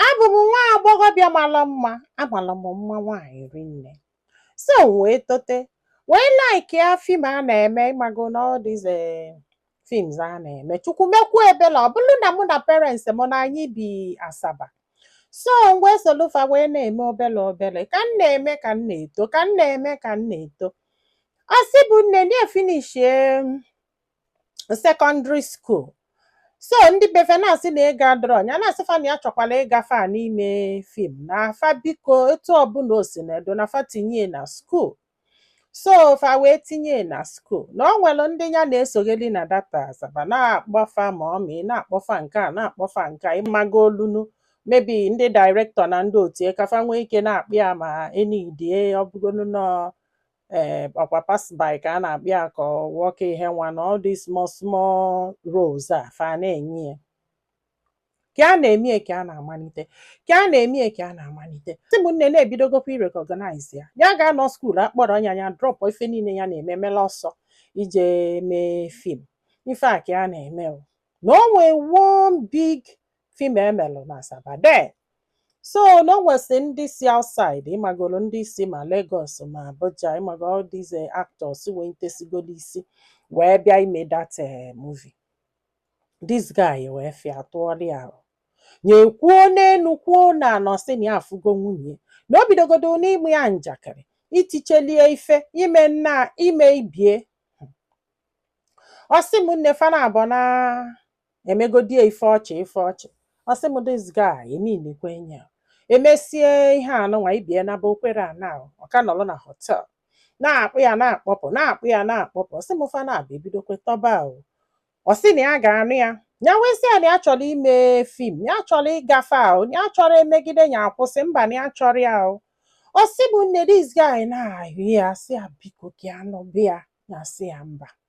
abụ m nwa agbọghọbịa mara mma amara m mma nwaanyị rinne so m wee tote wee like ya fim a na-eme ịmago na all these eh, films a na-eme chukwu mekwu ebele ọ bụrụ na mụ na parents m na anyị bi asaba so m wee solu fa wee na-eme obele obele ka m na-eme ka m na-eto ka m na-eme ka m na-eto ọ sị bụ nne na-efinishie sekọndịrị skuul so ndị be fa na-asị na ego adịrọ nya na-asị fa na ya chọkwala ịgafe a n'ime fim na fa biko etu ọbụla o si na edo na fa tinye na skuul so fa wee tinye na skuul na ọ nwere ndị ya na-esogheli na that asaba na-akpọ fa mọmị na-akpọ fa nke a na-akpọ fa nke a ịmago olunu maybe ndị dairektọ na ndị otu ka fa nwee ike na-akpọ ya ma e nidie ọ bụgonu nọ ee eh, waka pass by ka a na-akpọ ya ka nwoke ihe nwa na all these small small roles a fa na-enye ya ka a na-emie ka a na-amalite ka a na-emie ka a na-amalite sị m nne na e bidogokwa irekọgnaịz ya ya ga-anọ skuul a kpọrọ ya ya drọpụ ife niile ya na-eme mela ọsọ ije mee fim ife a ka a na-eme na o nwee one big fim e melụ na Asaba there so na o nwesị ndị si outside ịmagoro ndị si ma Lagos ma Abuja ịmago all these eh, actors wenitesigolo isi wee bịa ime that eh, movie this guy wee fụ ya tụọrọ ya arụ nye kwuo n'enu kwuo n'ana ọ sị na ya afụgo nwunye ya. na o bidogodo n'ịma ya njakịrị itichelie ife ime nna ime ibie ọ sị m nne fa naabọ na emegodie ife ọchị ife ọchị ọ sị m this guy eminekwe ya e mesie ihe anụnwa ibie naba o kwerọ ana ahụ ọ ka nọrọ na họtel na-akpọ ya na-akpọpụ na-akpọ ya na-akpọpụ ọ sị m fa naabọ ebidokwe tọba ahụ ọ sị na ya ga-anụ ya ya wee sị ya na ya chọrọ ime fim ya chọrọ ịgafe ahụ ya chọrọ emegide ya akwụsị mba na ya chọrọ ya ahụ ọ sị m nne this guy na-ayọ ya sị ya biko ka ya nụba ya ya sị ya mba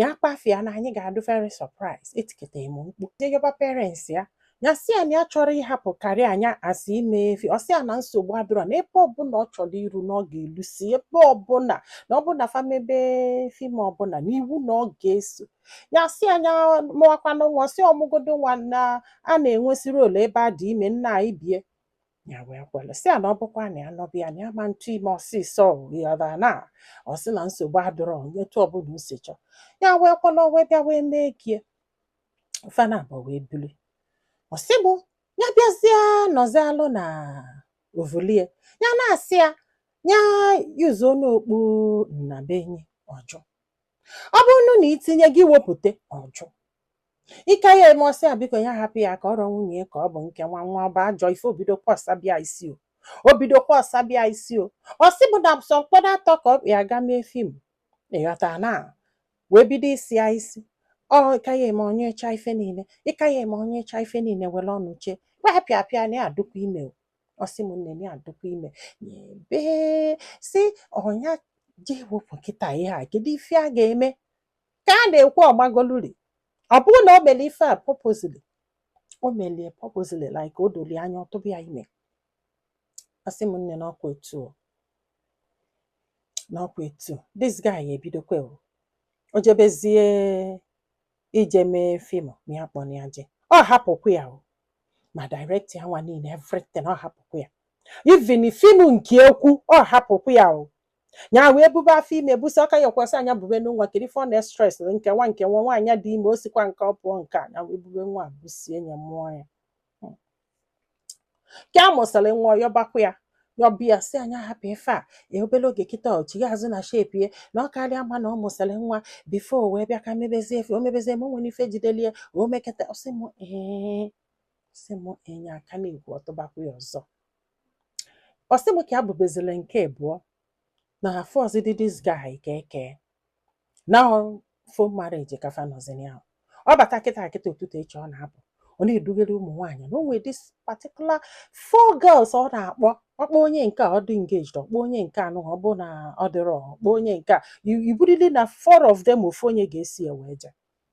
ya kpafia na anyị ga-adị very surprise etiketa m mkpu je yọba parents ya ya sị ya na ya chọrọ ịhapụ career nya asị ime fim ọ sị ya na nsogbu adịrọ na ebe ọbụla ọ chọrọ iru na ọ ga-elusi ebe ọbụla na ọbụna fa mebe fim ọbụla na iwu na ọ ga-eso ya sị ya nya mụwakwanụ nwa ọ sị ọ mụgodo nwa na a na-enwesịrị role ebe a dị ime nna ibie ya wee kwere sị ya na ọ bụkwa na ya nụba ya na ya ama atụ ime ọsịsọ yọda na ọ sị na nsogbu adịrọ etu ọbụla o si chọọ ya wee kwere o wee bịa wee mee gie fa naabọ wee bili ọ sị mụ ya bịazie nọzialụ na ovulie ya na-asị ya ya yuzuo n'okpu nnabenyi ọ jụ ọ bụrụ na i tinye gị wepụta ọ jụ ịka ya eme ọ sị a biko ya hapụ ya ka ọ rọ nwunye ya ka ọ bụ nke nwa nwa ọ bụ ajọ ife o bido kwọsa bịa isi o o bido kwọsa bịa isi o ọ sị mụ na sọ mkpọda atọ ka ọ ya ga-eme fim ị ghọta na wee bido isi ya isi ọ ịka ya eme onye cha ife niile ịka ya eme onye cha ife niile were ọnụ chee pịapịa na ya adụkwa ime o ọ sị m nne m ya adụkwa ime ebe si ọnya jee wepụ nkịta ihe a kedu ife a ga-eme ka a na-ekwu ọgbagoluri ọ bụrụ na o meli ife a purposely o melie purposely like o doli anya ọ tụba ya ime asị m nne n'ọkwa etu o, n'ọkwa etu o. this guy ya ebidokwa o jebezie ije mee fim ma ya kpọrọ ya je ọ hapụkwa ya o ma direct ya nwa niile everything ọ hapụkwa ya even fim nke ekwu ọ hapụkwa ya o nya wee bube afọ ime busa aka ya kwasị anya bube na nwa kiri fọ na stress nke nwa nke nwa nwaanyị dị ime o sikwa nke ọ pụọ nke a nya wee bube nwa a busie ya mụọ ya Hmm. ka a mụsịrị nwa yọbakwa ya yọba sị a nya hapụ ife a ya obere oge kịta ọ chigha azụ na shape ya na ọ karịa mma na ọ mụsịrị nwa before o wee bịa ka mebezie ife o mebezie ma o nwere ife jidelie o mekata ọ sị mụ ee sị mụ nne a ka na-ekwu ọ tụbakwa ya ọzọ ọ sị m ka e bubezile nke abụọ na afọ ọzọ dị this guy ka eke na for marriage ka fa nọzi nya ọ bata kịta kịta ụtụtụ echi ọ na-apụ ọ na-edugere ụmụ nwaanyị na o nwee this particular four girls ọ na-akpọ ọ kpọọ onye nke a ọ dị engaged ọ kpọọ onye nke anụ ọ bụ na ọ dịrọ ọ kpọọ onye nke a ọ bụrịrị na four of them ofu onye ga-esi ya wee je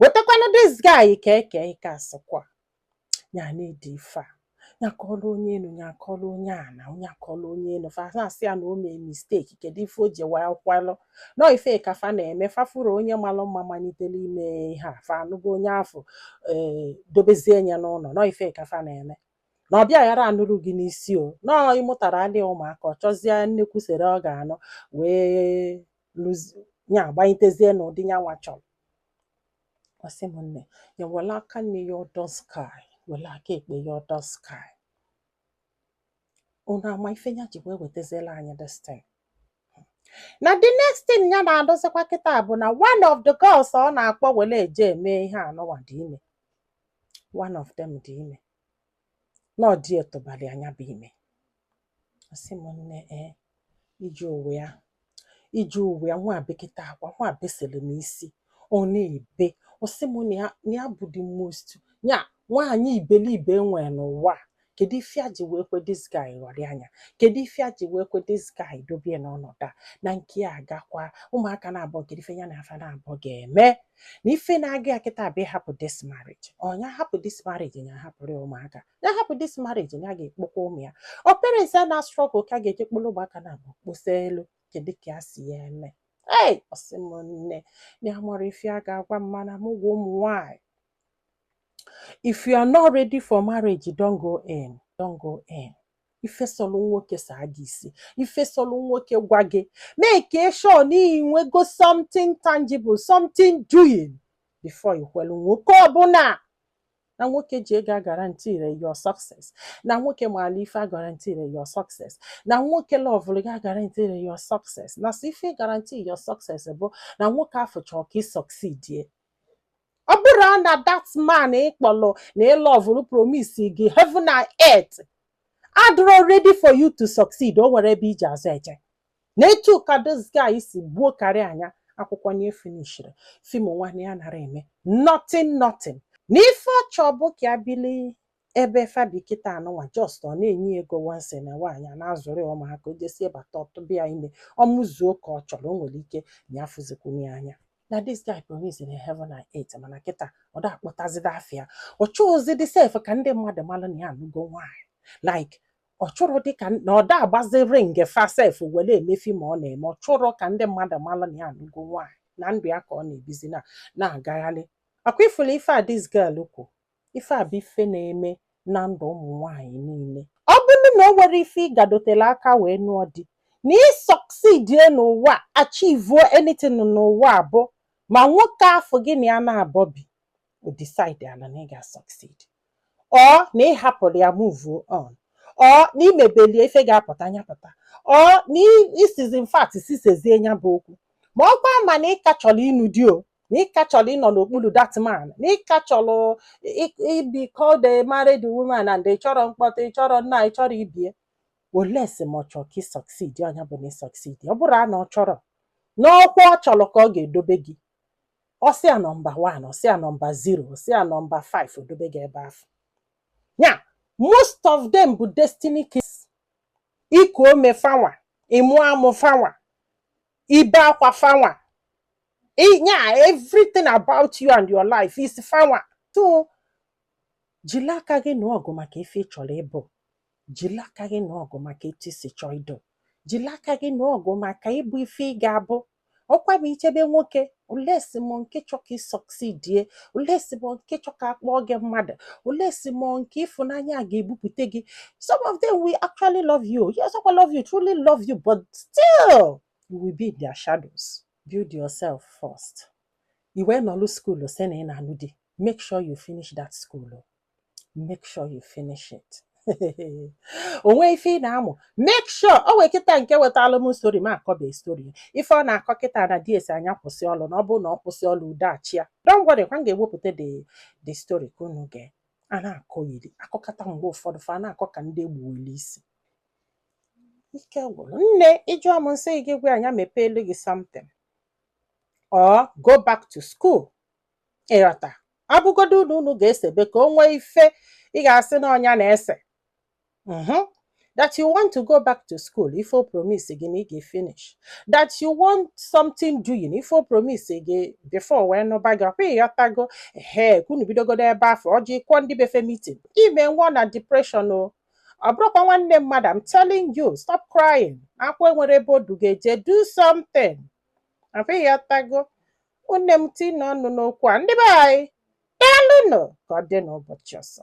wetakwanụ this guy ka eke ike asịkwa ya na-ede ife a ya akọọla onye enu ya akọọla onye ana nya akọọla onye enu fa na-asị ya na o mee mistake kedu ife o ji wee kwelụ na ọ ife ka fa na-eme fa fụrụ onye malụ mma malitere ime ihe a fa anụgo onye afọ ee dobezie ya n'ụnọ na ọ ife ka fa na-eme na ọ bịa ghara anụrụ gị n'isi o na ọ ị mụtara adịghị ụmụaka ọ chọzie nnekwu sere ọ ga-anụ wee lụzi ya agbanyitezie n'ụdị nya nwa chọrọ ọ sị m nne ya were aka nni ya ọdọ sky were aka ekpe ya ọdọ sky unu ama ife ya ji wee wetaziela anyị this thing na the next thing ya na-anụzikwa kịta bụ na one of the girls ọ na-akpọ were eje eme ihe anụwa dị ime one of them dị ime na ọ di ya tụbalị a nya bụ ime Ọ sị m nne ee iji ụwa ya iji ụwa ya nwa bekata akwa nwa besịrị m isi ọ na-ebe ọ sị m na ya- na ya bụ the most ya nwaanyị iberibe e nwere n'ụwa a. kedu ife a ji wee kwe this guy ghọrịa nya kedu ife a ji wee kwe this guy dobie n'ọnọdụ a na nke ya agakwa ụmụaka naabọ kedu ife ya na fa naabọ ga-eme na ife na-agụ ya kịta bụ ịhapụ this marriage ọ nya hapụ this marriage ya hapụrụ ya ụmụaka ya hapụ this marriage ya ga-ekpokwa ụmụ ya ọ parents ya na-struggle ka a ga-eje kporo ụmụaka naabọ kposa elu kedu ka ya si ya eme ei ọ sị m nne na ya amarọ ife a ga-agwa m mana m gwa ụmụ nwanyị if you are not ready for marriage don't go in don't go in ife sọlụ nwoke saa gị isi ife sọlụ nwoke gwa gị make sure na i nwego something tangible something doing before i kwelu nwoke ọbụla na nwoke ji ego aguaranteerọ your success na nwoke maalụ ife aguaranteerọ your success na nwoke lọvụrụ gị aguaranteerọ your success na sọ ife guarantee your success bụ na nwoke afụ chọọ ka ị succeedie ọ bụrụ na that man ị kpọlụ na ị lọvụrụ promise gị heaven and earth adịrọ ready for you to succeed o nwerọ ebe i ji azụ eje na etu ka this guy si gbuo career nya akwụkwọ nya efinishirọ film nwa nya anarọ eme nothing nothing na ife ọ chọ bụ ka ya bili ebe fa bi kịta anụnwa just ọ na-enye ya ego once na nwaanyị a na-azụrụ ya ụmụaka o jesie bata ọ tụba ya ime ọ mụzuo ka ọ chọrọ o nwere ike na ya fụzikwunye ya anya na this guy promise in heaven and earth mana kịta ọ da akpọtazide afa ya ọ chọghịzidị sef ka ndị mmadụ mara na ya anụgo nwaanyị like ọ chọrọ dị ka na ọ da agbazi ring fa sef were eme film ọ na-eme ọ chọrọ ka ndị mmadụ mara na ya anụgo nwaanyị na ndụ ya ka ọ na-ebizi na na-agagharị ọkwa ị fụla ife a this girl kwu ife a bụ ife na-eme na ndụ ụmụ nwaanyị niile ọ bụrụ na o nwerọ ife ị gadotela aka wee nụọ di na ị succeedie n'ụwa achivuo anything n'ụwa abụ ma nwoke afụ gị na ya naabọ bi o decide ala na ị ga-succeed or na ị hapụrụ ya move on or na i mebelie ife ga-apụta nya pụta or na i sizi in fact sisezie nya bụ okwu ma ọkwa ma na ị ka chọrọ ịnụ di or na ị ka chọrọ ịnọ n'okpuru that man na ị ka chọrọ ị- ịbụ called a married woman and ị chọrọ mkpọtụ ị chọrọ nna ị chọrọ ibie unless ma ọ chọrọ ka ị succeed ọ nya bụ na ị succeed ọ bụrụ na ọ chọrọ n'ọkwa ọ chọrọ ka ọ ga-edobe gị ọ sị ya nọmba 1 ọ sị ya nọmba 0 ọ sị ya nọmba 5 o dobe gị ebe afụ ya most of them bụ destiny killers iku ume fanwa ịmụ amụ fanwa ibe akwa fanwa ya everything about you and your life is fanwa so jiri aka gị nụọ ọgụ maka ife ị chọrọ ịbụ jiri aka gị nụọ ọgụ maka etu i si chọọ ịdụ jiri aka gị nụọ ọgụ maka ịbụ ife ị ga-abụ ọkwa ma i chebe nwoke olesi mọ nke chọ ka ị succeedie olesi mọ nke chọ ka a kpọọ gị mmadụ olesi mọ nke ịfụnanya ga-ebupụta gị some of them will actually love you yes ọkwa love you truly love you but still you will be in their shadows build yourself first i wee nọlụ school sị na ị na-anụ di make sure you finish that school make sure you finish it o nwee ife ị na-amụ make sure o wee kịta nke wetalụ m story ma akọbe story ife ọ na-akọ kịta na di e sị a nya kwụsị ọlụ na ọ bụrụ na ọ kwụsị ọlụ udo achịa don't worry kwa m ga-ewepụta the story ka unu gee a na-akọ yiri akọkata mgbe ụfọdụ fa na-akọ ka ndị e gbuweli isi ike gwụrụ nne ị jụọ m m sị gị gwa nya mepeelu gị something or go back to school ị ghọta ọ bụgodu na unu ga-esebe ka o nwee ife ị ga-asị na ọ nya na-ese Mhm. that you want to go back to school ife o promise gị na ị ga-finish that you want something doing ife o promise gị before wee nụba gị ọkwa ịghọtago ehe ka unu bidogodo ebe afụ ọ jụ kpọọ ndị be fa meeting ime nwụọ na depression o ọ bụrụkwa nwanne mmadụ I'm telling you stop crying akwa enwerọ ebe o du gị eje do something ọkwa ịghọtago ụmụnne m tinye ọnụ n'okwu a ndị be anyị daalụnụ ka ọ dị n'ụbọchị ọzọ